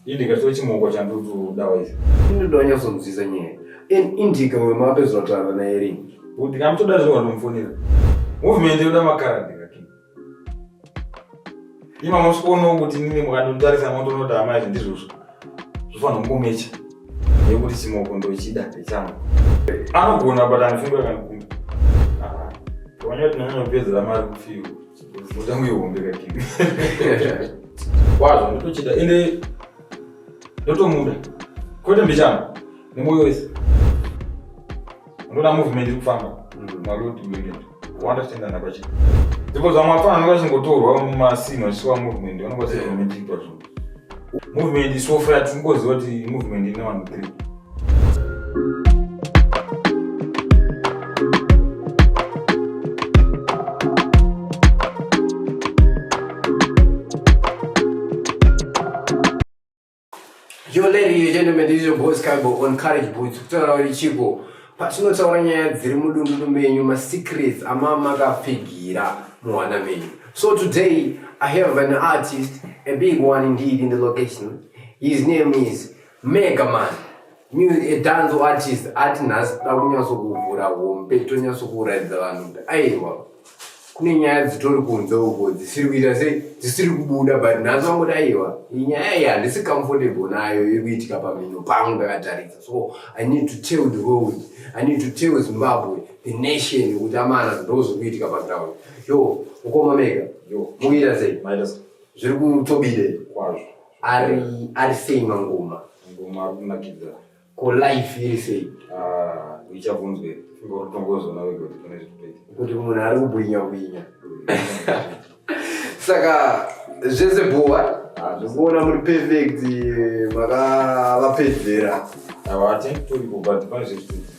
Ini ndikatore chimoko chandudu dawa izvo. Ini ndonyasonzwisa nyaya. In Indica uyo maapedzwa tara naye rini? Kuti kamutoda zvinhu wanomufonera. Movement yoda makara ndika king. Ima mosikono kuti nini mukandontarisa moto nota hama izvi ndizvozvo. Zvofanira kungomecha. Yekuti chimoko ndochida ndechangu. Anogona but anofungwa kana kumba. Ah. Wanyoti nanyanya kupedzera mari kufiwa. Mutambo ihombe kakimi. Kwazvo ndotochida ende ndotomuda. Kwete mbichana nemoyo wese. Unoda movement iri kufamba. Mm. Malodi movement. Wanda tenda napachita. Ndipo zvamwe apana anokashingotorwa mumasini achisiwa movement. Vanokasira movement iri pazvungu. movement isofa tingoziva kuti movement ine vanhu three Yo, ladies and gentlemen, this is your boy Skybo on Courage Boots. Kutora wari chipo. patinotaura nyaya dziri mudundunu menyu masecrets amamakapfigira muhana menyu so today i have an artist a big one indeed in the location his name is megaman danzo artist ati nhasi da kunyatsokuvhura hombe tonyatsokuraidza vanhu kuti aiwa kune nyaya dzitori kunze uko dzisiri kuita sei dzisiri kubuda but nhasi vangoda aiwa nyaya iyi handisi comfortable nayo iri kuitika pamhino pangu ndakatarisa so i need to tell the world i need to tell zimbabwe the nation kuti amana ndo zviri kuitika paground yo ukoma mega mukuita sei zviri kutobide kwazvo ari ari sei mangoma mangoma ari kunakidza Ko life iri sei? Ah, ichabvunzwe. Funga kuti tongozoona wega kuti pane zviri kuita. Kuti munhu ari kubwinya bwinya. Saka zvese bhuwa zvekuona muri perfect makavapedzera. Hawati tori kubva pane zviri kuita.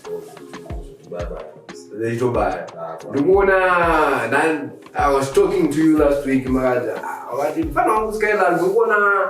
Zvaitobaya. Ndikuona I was talking to you last week makazi ah, wati mfana wangu Skylar ndikuona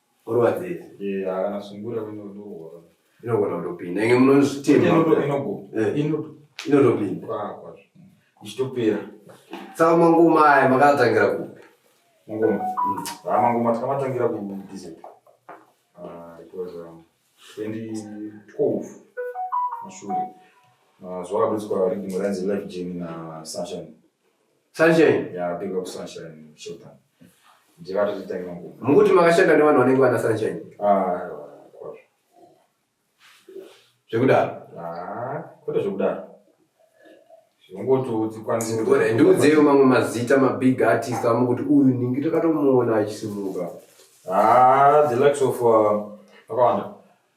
orwadzei eh haana sungura inodorwa inogona kutopinda inge munozvitema inogo eh. inodo inotopinda kwakwa ichitopera saka mangoma aya makatangira kupi mangoma mm. ha ah, mangoma takamatangira ku dz ah, it was um, 2012 mashure ah, zvakabetswa ridimo rainzi life jeni na sunshine Sunshine. Yeah, big up Sunshine Shota. Ndivato titanga nguva. Mukuti makashanda nevanhu vanenge vana Sunshine. Ah, kwazvo. Zvekudaro. Ah, kwete zvekudaro. Zvongotodzikwanisa. Ndiudzeyo mamwe mazita mabig artist amukuti uyu ningi takatomuona achisimuka. Ah, the likes of uh, akawanda.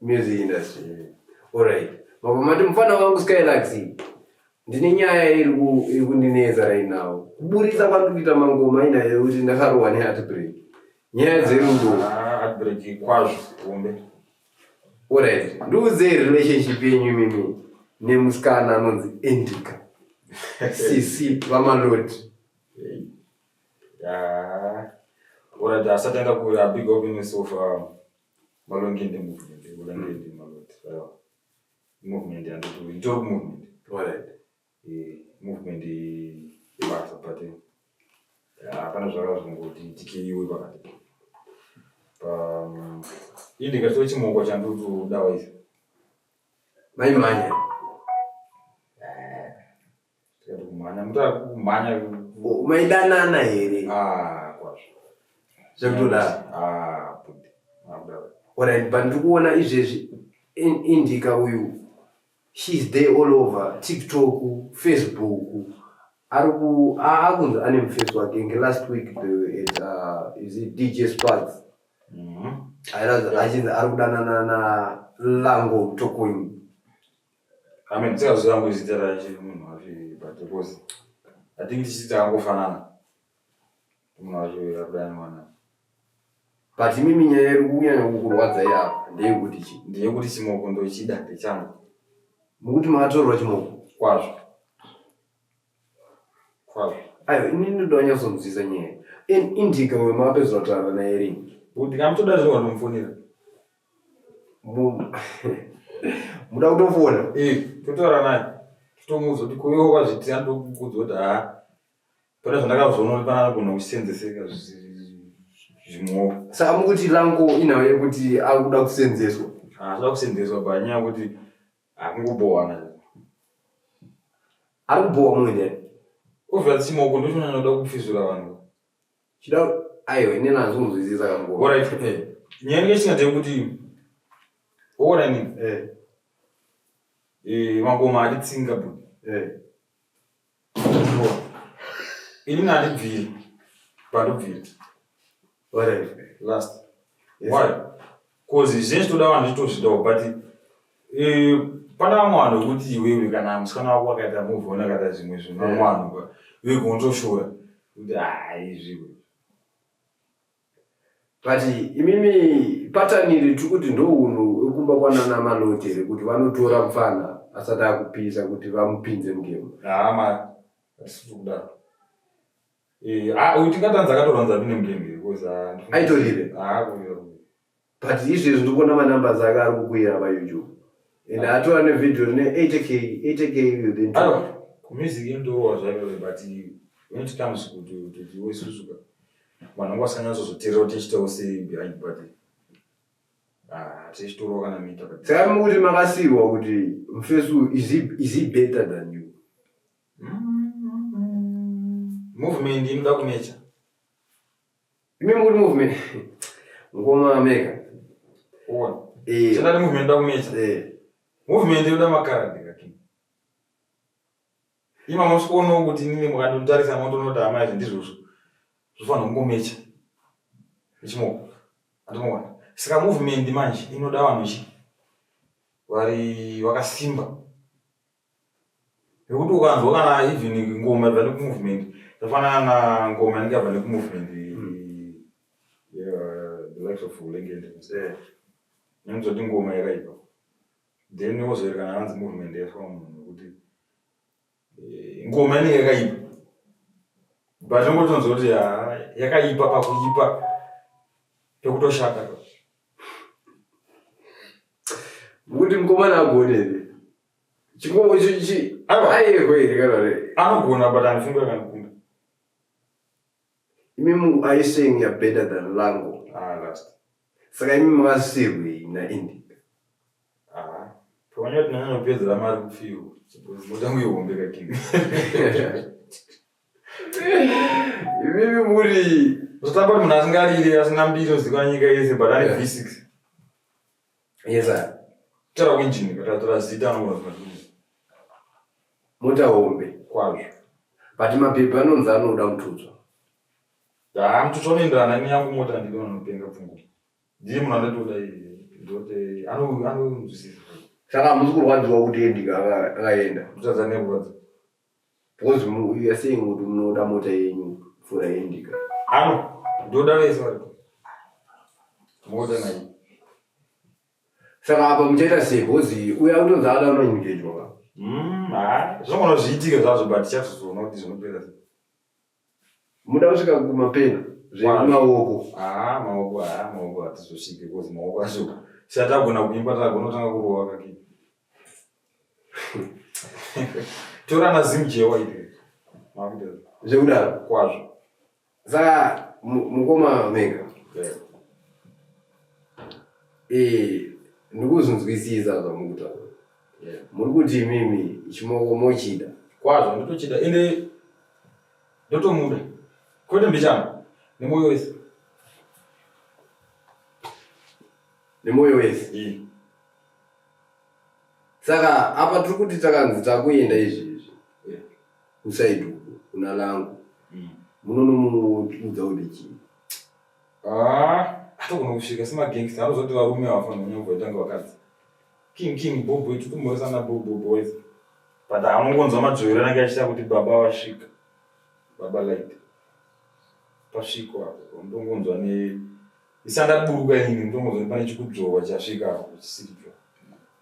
music industry alright mabva mati mufana wangu skylax ndine nyaya iri ku- iri kundinetsa right now kuburitsa kwandiri kuita mangoma inayo yekuti ndakarohwa neheartbreak nyaya dzerudo Ah, adbreak kwazvo hombe alright ndiudzei relationship yenyu imimi nemusikana anonzi endika sisi vamaloti Ah, alright asati anga kuya big up in sofa Malongi ndi movement, Malongi ndi maloti. Sawa. Movement yandoti nditori movement. Alright. Eh, movement ibasa but eh, hapana zvaka zvingoti tikeiwe pakati. Um, ini ndikatoa chimoko chandotodawa icho. Mai manya. kumhanya mutaka kumhanya maidanana here ah kwazvo zvekutodaro ah budi makudaro alright but ndikuona izvezvi indika uyu she's there all over tiktok facebook ari ku akunzi ane mufesi wake nge last week at uh, is it dj sparks mm -hmm. achinzi ari kudanana na lango tokoini Amen. Sikaziva yangu izita racho munhu wacho but because I think tichiti angofanana munhu wacho akudana mwana. But mimi nyaya iri kunyanya kukurwadza iyapo ndeyekuti chi. Ndeyekuti chimoko ndochida ndechangu. Mukuti makatorerwa chimoko? Kwazvo. Ayo ini ndoda kunyatsomuziza nyaya. In indica uyo maapedza kutaura naye rini. Ndikamutoda zvino wanomufonera. Muda kutofona? Eh, totaura naye. Tomuudza kuti kuyo kwazviitira ndokuudza kuti ha. Pana zvandakazoona kuti pana anogona kusenzeseka zvimwe. Saka mukuti lango inawo yekuti akuda kusenzeswa. Ah, akuda kusenzeswa panyaya kuti Akungobhowa manje. Ari kubhowa mumwe ndiani? Ovha tsimo uko ndoshona noda kupfizura vanhu. Chida aiwa ine nazvo kunzwisisa kangu. Bora ife. Eh. Nyaya yake singa kuti ora ni. Eh. Eh, makoma alitsinga bu. Eh. ini nandibviri pandobviri last why bcause zvinenge zvitoda vanhu zvitozvidawo but eh, pana vamwe vanhu vekuti iwewe kana musikana wako akaita muvona akaita zvimwe zvinhu vamwe vanhu vekunotoshora kuti haizviwe but imimi patani iri tiri kuti ndohunhu ekumba kwanana maloti here kuti vanotora mfana asati akupisa kuti vamupinze mugemu hama atisitokudaro eh, ah, tingatanza akatoranza pine mugemu because ah, aitorire ah, but izvezvi ndikuona manumbers ake ari kukwira payoutube and ah. atova nevideo rine 8k 8k ah, kumusic yendorova zvayo but when it comes kutuwesusuka vanhu vanga vasanyatsozoteerera kuti tichitawo sei behind but ah, tichitorova kana mita saka mukuti makasiiwa kuti mfesu is he better than you mm-hmm. movement inoda kunecha Remember good movement. Ngoma mega. Uona. Eh. Chana movement ndakumecha. Eh. Movement yoda makaradi kaki. Ima mosikono kuti nini mukandontarisa motonota amai zvindizvozvo. Zvofanira kungomecha. Ichimoko. Andinoona. Saka movement manje inoda vanhu chi vari wakasimba. Nekuti ukanzwa kana even ngoma ibva nekumovement zvafanana na ngoma inenge yabva nekumovement hmm. the likes of Lengende eh. nemuzoti ngoma yakaipa then wozoerekana hanzi movement yafa munhu nekuti eh, ngoma inenge yakaipa but ungotonzwa kuti ah, yakaipa pakuipa pekutoshata kuti mukomana agone Chikombo icho ichi. Aiwa. Ayewe here kana re. Anogona but anofunga kana kumba. Imi mu are you saying you're better than Lango? Ah, last. Saka imi makasirwei na Indi? Ah. Pamanya tinanyanya kupedzera mari kufiwa. Motangu ihombe kakini. Imi muri. Zotamba munhu asingarire asina mbiri ozikwa nyika yese but ari Yeah. V6. Yes sir. Tara winjini katatora zita anogona kubatwa. Mota hombe kwazvo. But mapepa anonzi anoda kututswa. Haa mututswa unoenderana neyangu mota handidi vanhu vanopenga pfungwa. Ndiye munhu andatoda iye. Ndote anonzwisisa. Saka hamusi kurwadziwa kuti endika akaenda. Kutadza nekurwadza. Because mu- you are saying kuti munoda mota yenyu mvura yendika. Ano, ndoda vese vari. Moda naye. Saka apa muchaita sei? Because uya utonzi ada unoengejwa. Mm, ah, zvinogona zviitike zvazvo but tichazoona kuti zvinopera sei. Muda kusvika kumapena zvemaoko. Ah, maoko ah, maoko hatizosvike because maoko acho siyatagona kuimba tagona kutanga kurova kake. Tora na zim jewa ipi. Makuda. Zvekuda kwazvo. Za mukoma mega. Yeah. Eh, ndikuzvinzwisisa zvamukutaura. yeah. muri kuti imimi chimoko mochida kwazvo ndotochida ende ndotomuda kwete mbichana nemoyo wese nemoyo wese yeah. saka apa tiri kuti takanzi takuenda izvezvi yeah. usaidi uku kuna langu mm. munonomuudza mm. kuti chii ah, atogona kusvika semagangsta anozoti varume avafanira kunyamboitanga vakadzi King King Bobo iti kumhoresa na Bobo boys. But amungonzwa madzvoiro anenge achita kuti baba vasvika. Baba light. Pasviko apo ndongonzwa ne isanda buruka ini ndongonzwa ne pane chikudzvova chasvika apo chisiripyo.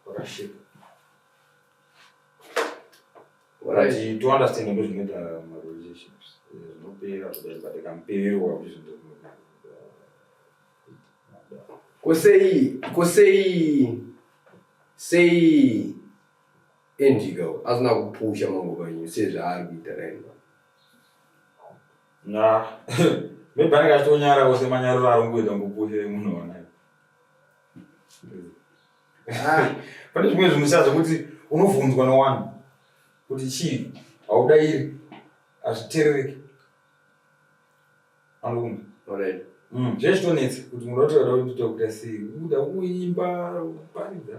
Pakashika. Right. To understand ndo zvinoita ma relationships. Zvinopera zvoda zvakamperwa kuti zvinopera. Ko sei, ko sei, sei Indigo asina kupusha manguva enyu sezvaari kuita right now? Nah, maybe anenge achitonyara ose manyariro ari kungoita ngopusha emunoona. Ah, Pane zvimwe zvinhu siya zvekuti unobvunzwa newanhu kuti chii haudairi hazviterereki. Ambukumbi. Alright. Mm. Zveshitonetsi kuti munhu otoda kuti tokuita sei kuda kuimba paridza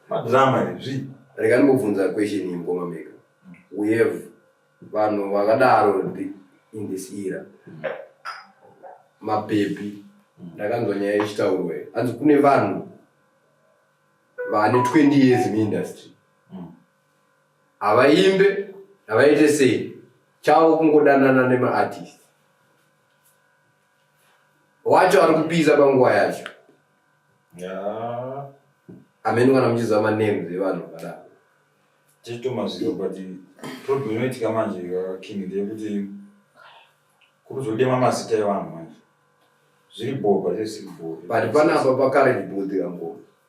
madrama izvi rega ndimbobvunza question iyi mukoma mega we have vanhu vakadaro in this era mapepi ndakanzwa nyaya ichitaurwa hanzi kune vanhu vane 20 years muindustry havaimbe havaite sei chavo kungodanana nemaartist wacho ari kupisa panguva yacho amene kana muchiziva manames evanhu vakadaro tichitomaziro but problem inoitika manje king ndeyekuti kuruzodema mazita evanhu manje zviri bhoo but panapa pakaredi bhoo dhirambo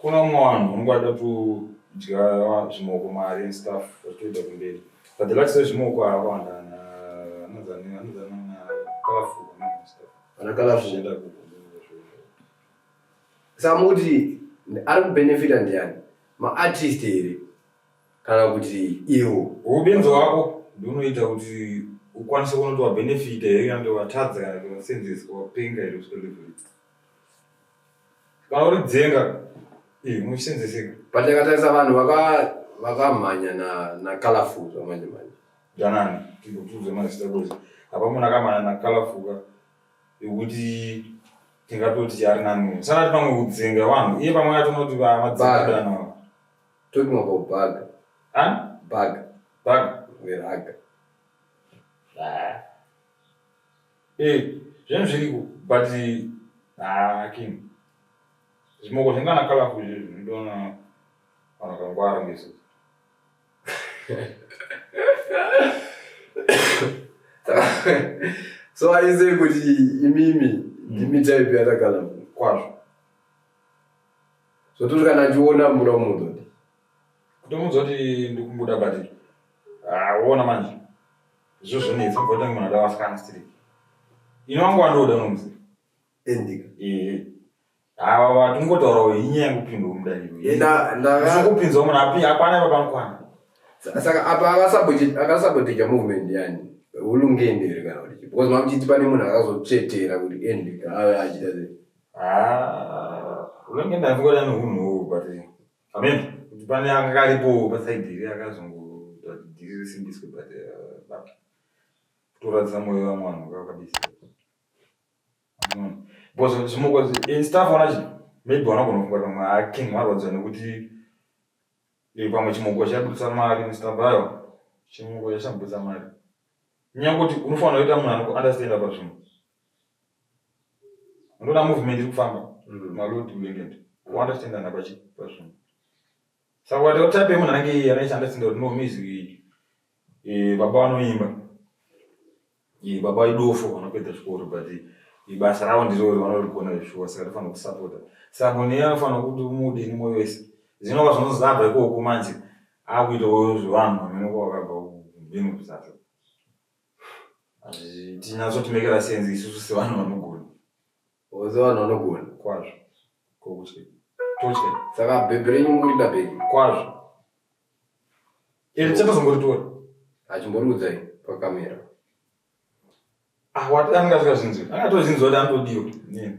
Kuna umwe vanhu unongada kudya zvimoko mari and stuff zvatoita kumberi. But the likes of zvimoko haakawanda ana anozani anozani ana kalafu and stuff. Ana kalafu. Zvichienda ku- saka mukuti ari kubenefita ndiani maartist here kana kuti iwo Ubenzi hwako ndonoita kuti ukwanise kunoti wabenefita here kana kuti watadza kana kuti wasenzeswa wapenga here kusvika level iyi. kana uri dzenga eh, muchisenzeseka pandakatarisa vanhu vaka- vakamhanya na nacolorful zvamanje manje danani tikutuze mazita kuti apa munhu akamana nakalafuka yekuti tingatoti ari nani sanati pamwe kudzenga vanhu iye pamwe atonoti Bag. vamadzengadana talking about bag an bag bag veraga Eh, zvinhu zviriko but haa king zvimoko zvingana kalafu izvi zvinodona vanhu vakangwara ngesu so aize kuti imimi ndimi type yatakala kwazvo zvototi kana achiona muda kumuudza kuti kutomuudza kuti ndikumbuda but haa ona manje Izvo zvonetsa bvota munhu ada vasikana striki. Ini wangu wandoda unomuziva. Endika. Ehe. Ava vati ungotaurawo inyaya yekupindwa mudaniro. Enda ndaka. Sekupinzwa munhu api apana ipa panokwana. Saka apa akasabotija akasabotija movement yani. Ulungende here kana kuti because makuchiti pane munhu akazotsvetera kuti endika ave achita sei. Ah, ulungende afunga kuti ane hunhu but Amen. Kuti pane anga aripo pasaidi iri akazongoita kuti dhiri risimbiswe but uh, but kutoradzisa moyo wa mwana wakabisa. Amen. Because zvimoko in staff ona chi maybe wanogona kufunga pamwe aking marwadziwa nekuti eh, pamwe chimoko chabudisa mari Mr. Bayo chimoko chashabudisa mari. Nyangoti unofanira kuita munhu anokuunderstanda pazvinhu. unoona movement iri kufamba mm. malodi weekend kuwanda kuchendana pazvinhu saka ukati otape munhu anenge iye anoishanda sinda kuti nomizi eh, baba vanoimba eh, baba idofo vanopedza zvikoro but ibasa eh, ravo ndirori vanorigona zvishuwa saka tofanira kusapota saka munhu iye anofanira kuti umude nemoyo wese zvinova zvinozabva ikoko manje akuitawo zvevanhu vamene kwavakabva kubengu kusasa Tinyatsoti make la sense isusu sevanhu vanogona. Ozo vanhu vanogona. Kwazvo. Kokutye. Totye. Saka bhebhi renyu murida bhebhi. Kwazvo. Iri chatozongoritora. Achimboriudza iyi pakamera. Ah, what anga zvinzi. Anga tozvinzi kuti anodiwa. Nini?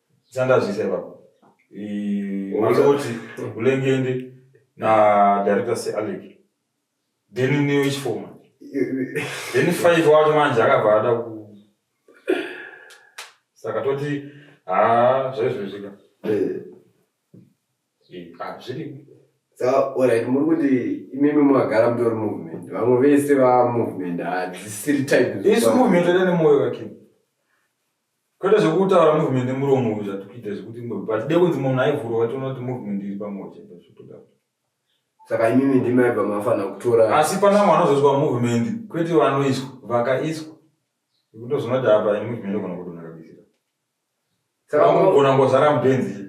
Sandazvisa ipapo. Eh, Mwanza kuti ulengende na director se Alec. Then ni which form? Then five wacho manje akabva ada ku Saka toti ah zvezvo zvika. Eh. Eh, ah zviri. Saka alright muri kuti imimi mwagara mutori movement. Vamwe vese va movement hadzisiri type. Isu movement ine moyo wake. Kwete zvekutaura movement nemuromo uyu zvatikuita zvekuti but dai kunzi munhu aivhurwa vatoona kuti movement iri pamwe chete zvotoda saka imimi ndimaiva mafanira kutora asi pana mwana uzoiswa movement kwete vanoiswa vakaiswa kutozona kuti apa movement ogona kudona kabisira saka unogona ngozara mubenzi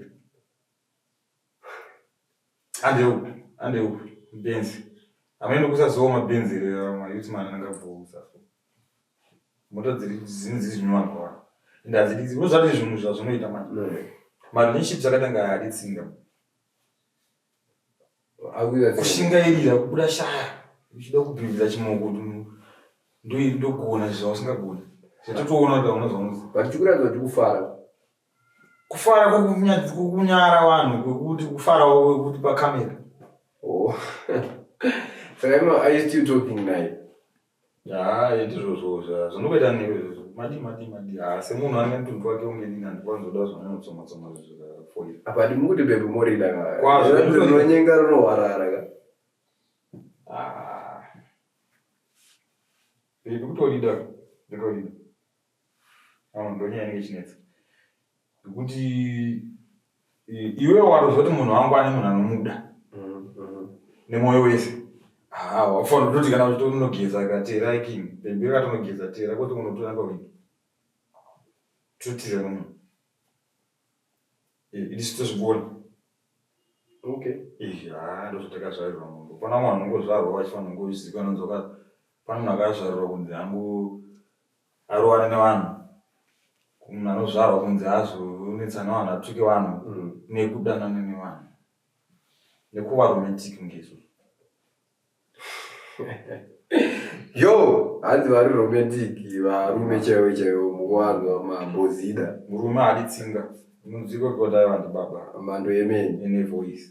Hande upi, hande upi, benzi. Amene kusazowa mabenzi here ma youth man angabvousa. Moto dziri dzini dzizinwa kwa. Ndazi dziri zvozvati zvinhu zvazvinoita manje. No. Marinship dzakatanga hadi tsinga. Akuya kushingairira kubuda shaya. Uchida kubvivira chimoko ndogona zvawasingagoni. Zvatotoona kuti unozonzi. Vachikura kuti kufara. kufara kwekunyara vanhu kwekuti kufarawo kwekuti pacamera oh. saka no are you still talking naye haa iti zvozvo zvinokuita newe madi madi madi haa semunhu ane mutundu wake umweni nani kwanzoda zvananotsomatsoma zvofoira apa ati mukuti bebe morida kwazvorinonyenga rinohwarara ka bebe kutorida nditorida ndonyaya inenge ichinetsa nekuti iwe watozoti munhu wangu ane munhu anomuda mm-hmm. nemwoyo wese wafanira kutoti kana kuti unogeza katera iking pemberi kati unogeza tera kuti unotora pawindi totira nomunhu itisu tozvigona okay ha ndozvatakazvarirwa munhu pana mwana unongozvarwa vachifanira kungozikanonzoka pana munhu akazvarirwa kunzi hangu arowane nevanhu munhu anozvarwa kunzi azonetsana vanhu atuke vanhu mm. nekudanana nevanhu nekuva romantic ngeizvo yo hanzi vari romantic varume chaivo chaivo muvanhu vamambozida murume adi tsinga mudziko kodai vandibaba mhando yemene ene voice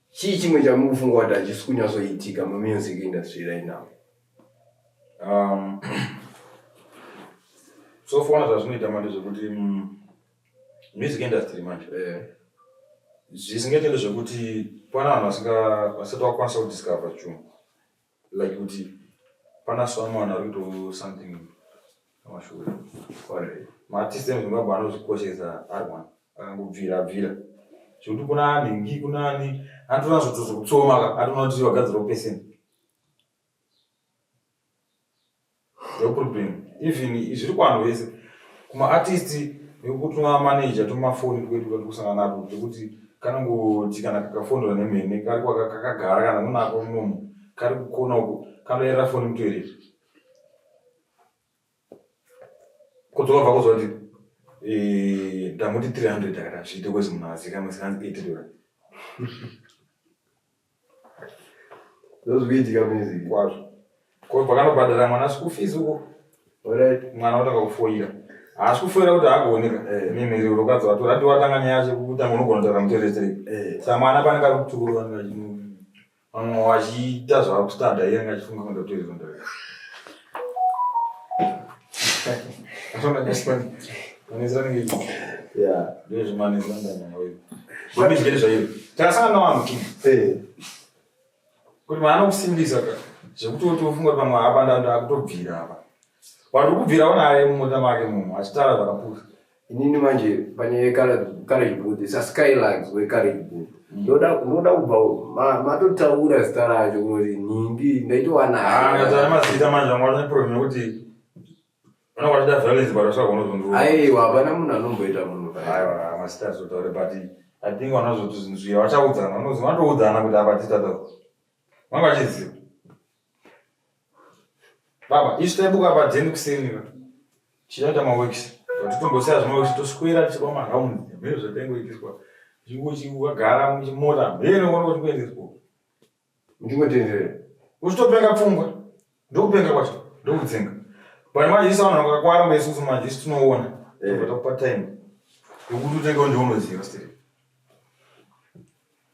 Chii chimwe chamuri kufunga kuti hachisi kunyatsoitika mumusic industry right now? Um, so fona zvazvinoita manje zvekuti mm, music industry manje Eh, zvisingaitende zvekuti pana vanhu vasinga- vasati vakwanisa kudiscover chunhu like kuti pana someone ari kuto something amashure maartist emuzimbabwe anozvikoshesa ari one akangobvira bvira zvekuti kuna ani ngi kuna ani anotona zvotozokutsomaka atona kuti vagadzirawo pesenti No problem. Even zviri kuvanhu vese kumaartist nekuti manager tomafoni kwedu kati kusana nako tekuti kanongoti kana kakafonera nemene kari kakagara kana munako munomu kari kukona uko kanoyerera foni mutoerera kudzoka bva kuziva kuti eh, ndamuti 300 akati hazviite kwezi munhu azikamwe sikanzi 8 dollar ndozvikuitika mizi kwazvo ko pakanobhadhara mwana school fees uko right mwana otanga kufoira haasi kufoira kuti haakuoneka eh. mimhiri urokadzi watora ati watanga nyaya yacho kutanga unogona kutaura muteretere eh. sa mwana pane kari kutukuru vanhu vamwe vachiita zvava kustada iye anga achifunga kundotoizonda takasangana navanhu tu kuti mwana kusimbisa ka zvekuti wotofunga kuti pamwe apa ndandakutobvira apa wari kubvira unaye mumota make munhu achitara zvakapusa inini manje panyaya yecourage booth saskylags wecourage booth mm. ndoda unoda kubva matotaura zita racho kuti nhingi ndaitowanaaamazita ah, manje vanga vaneproblem yekuti vananga vachida violence but vasagonozondua aiwa hapana munhu anomboita munhu aiwa mazita azotaure but i think vanazoti zvinhu zviya vachaudzana vanozi vanotoudzana kuti apa titata vanga vachiziva Baba, isu taibuka padzeni kuseni ka. Tichaita maworks. Kuti tombosiya zvemaworks toswera tichiba maround. Zvimwe zvatengoitiswa. Zvikuti ukagara muchimota, mbere unoona kuti kuendeswa. Ndingotenderera. Uchitopenga pfungwa. Ndokupenga kwacho. Ndokudzinga. Bwana manje isu vanhu vakakwara mwe isusu manje isu tinoona. Tobva takupa time. Yokuti utenge undiunoziva siri.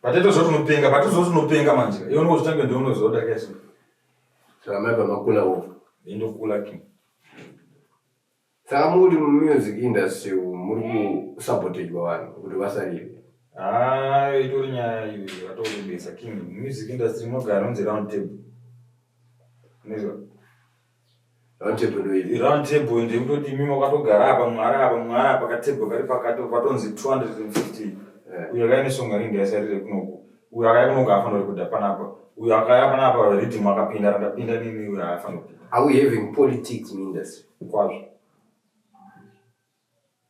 Batete zoti unopenga, batete zoti unopenga manje. Iwe unowo zvitange ndiwe unozoda kesho. Saka mai pamakula wo. Ndinokula ki. Saka muri mu music industry muri ku sabotajwa vanhu kuti vasarire. Ah, itori nyaya iyo yatokumbisa king music industry mogara unzi round table. Nezwa. Round table ndoiri. Round table ende kutoti imi makatogara apa mwara apa mwara apa ka table kari pakati patonzi 250. Eh. Uyo akaine songa ringi yasarire kunoku. Uyo akaya kunoku afanira kuda panapa. Uyo akaya panapa rhythm akapinda rakapinda nini uyo afanira kuda. Are we having politics in industry? Kwazvo.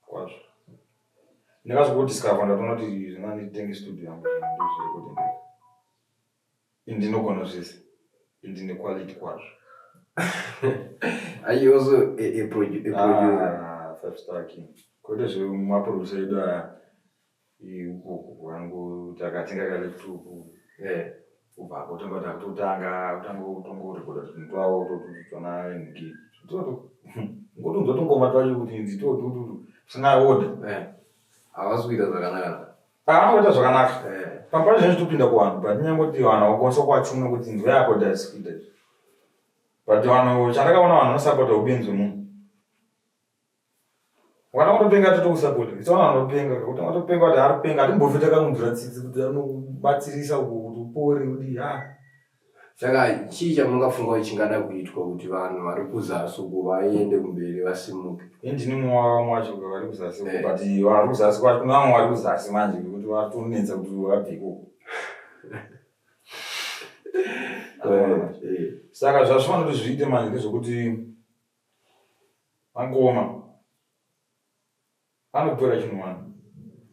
Kwazvo. Ndakazodiscover ndatoona kuti zvinganditenge studio yangu. Ndinogona zvese. Ndine quality kwazvo. Are you also a, a, produ- a producer? Ah, five star king. Kwete zvemaproducer edu aya. Ikoko kwangu takatenga kale tuku. Yeah. Kubva kotanga takutotanga kutanga kutongorekoda zvinhu twavo totutona nhingi. Toto. Ngotonzwa tungoma twacho kuti nzi totututu. Tisina order. Yeah. Havasi kuita zvakanaka. Paanoita zvakanaka. Eh. Pamba zvinhu zvitopinda kuvanhu but nyangoti vanhu vakwanisa kuvachume kuti nzwa yako dasikuita izvi. But vanhu chandakaona vanhu vanosapota ubenzi hwemunhu. Wana unopenga toto kusapota. It's one anopenga kuti anopenga kuti ari penga atimbofi takamubvira tsitsi kuti anobatsirisa kuti upore kuti ha. Saka chii chamungafunga kuti chingada kuitwa kuti vanhu vari kuzasi uko vaende kumberi vasimuke? Ini ndini mumwe wavamwe wacho kuti vari kuzasi uko, Eh. but vari kuzasi kwacho kune vamwe vari kuzasi manje kuti vatonetsa kuti vabve ikoko. Eh, Saka zvazvinoda kuti zviite manje ndezvekuti vakoma Pane kupera chinhu mwana.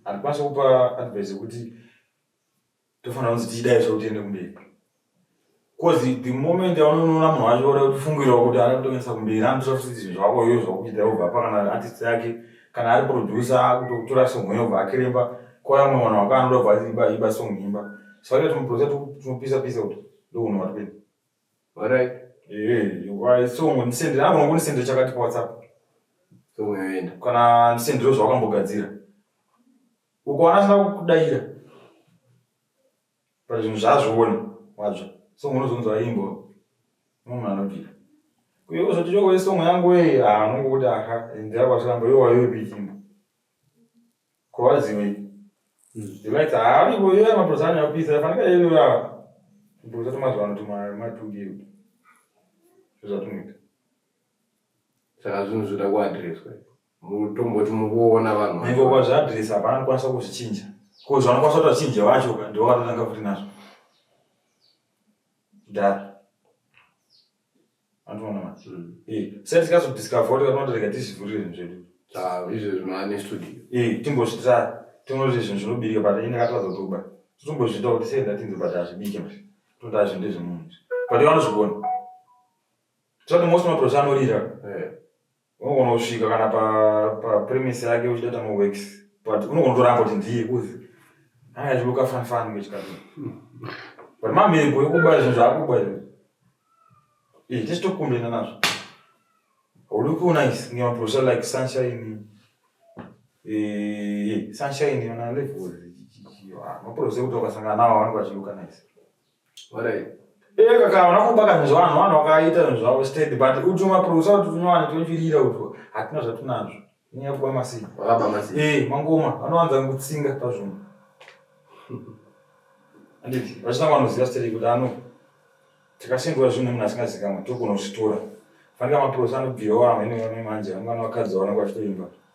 Handikwanisa kupa advice yekuti tofanira kunzi tichidai zve kuti tiende kumberi. Cause the moment yaunonoona munhu wacho oda kutofungirawo kuti ari kutoendesa kumberi anotora futi zvinhu zvako iyo zvakuchita obva apa kana artist yake kana ari producer akutokutora song iyo obva akiremba kwaya mumwe vanhu vako anoda obva iba iba song imba. Saka tinoproducer tinopisa pisa kuti ndokunhu wati kuenda. Alright. Eh, why so ndisendera ano ngonisendera chakati pa WhatsApp. So unoenda. Kana ndisendera zvawakambogadzira. Ukaona sina kukudaira. Pa zvinhu zvazviona wadzva. So unozonzwa imbo. Munhu anodira. Kuyo kuzoti choko isongo yangu wei, ah, unongokuti aha, ndira kwatiramba, yo wayo bikimbo. Ko vazivi. Delight haavi ko iye maprosa ane apisa afanira yeye iwe ava. Maprosa tomazuva ano tuma matugiro. Zvazvatunoita. Saka zvinhu zvoda kuadreswa. Mutomboti mukuona vanhu. Nyengo kwa zvaadresa hapana anokwanisa kuzvichinja. Ko zvanokwanisa kuti achinje vacho ka ndiwo vanotanga futi nazvo. Dara. Antoona manje. Mm. Eh, sense kaso discover kuti kana ndorega tizivhurire zvedu. Ah, izvo zvimane studio. Eh, timbozvita tinoti zvinhu zvinobirika but ini katadza kutoba. Timbozvita kuti sei ndatinzi but azvibike manje. Toda zvinhu ndezvemunhu. But vanozvigona. Tsono most maprocha anorira. Eh. unogona kusvika kana papremise pa yake uchitata maworks but unogona kutoramba kuti ndiye kuzi anga achiloka fanfani mechikati but mamhepo yokuba zvinhu zvaakuba izvo ee tese tokumbena nazvo haudi kuona is ngemaprofesa like sunshine sunshine yona level maprofesa ekuti wakasangana nawo vanenge vachiloka nice Eh kaka wana kubaka zvinhu zvavanhu vanhu vakaita zvinhu zvavo steady but uti maproducer kuti tunyowani tochirira utwo hatina zvatinazvo inyaya kuba masini wakaba masini eh mangoma vanowanza kutsinga pazvinhu anditi vachitanga vanoziva steady kuti ano tikasengura zvinhu munhu asingazikamwe tokona kuzvitora fanika maproducer anobvirawo amene vamwe manje vamwe vanhu vakadzi vaona kwachitoimba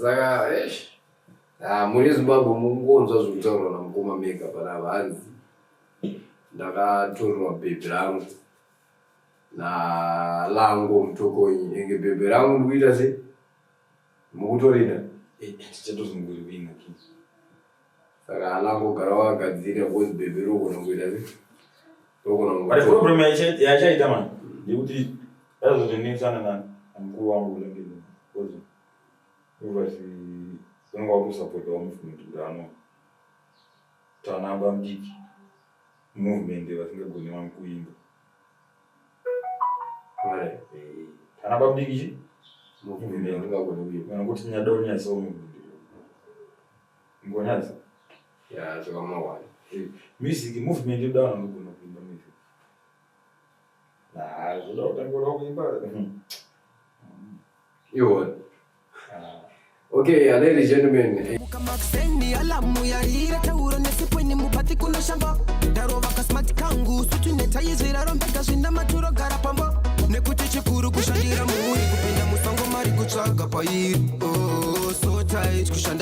saka ah, muri zimbabwe mungonzwa zvekutaurwa namukoma mega pana vanzi ndakatorerwa bhebhi rangu nalango mutokonyi enge bhebhi rangu ndikuita se mukutorida eh, Saka ana angogara wakagadzira because bebe rogona kuita se. Rogona But kuita. problem yaicha- yaichaita mani ndekuti azotonesana na mukuru wangu unenge because uvasi unenge wakusapota wa movement kuti ano tanamba mdiki movement vasingagoni vanhu kuimba Mare. tanamba mdiki chi Movement ingagona kuita. kana kuti nyadoni yaso movement Ngonadzo. Yeah, so I'm one. Eh, music movement you don't know kuno kuimba music. Nah, zvoda kutangura kuimba. You won. Ah. Okay, uh, ladies and gentlemen. Eh. Mukamaksendi alamu ya hira tauro nesipweni mupati kuno shamba ndarova kasmart kangu sutu netayizvira rombeka zvinda maturo gara pamba nekuti chikuru kushandira muuri kupinda musongo mari kutsvaga pairi oh, so tight kushanda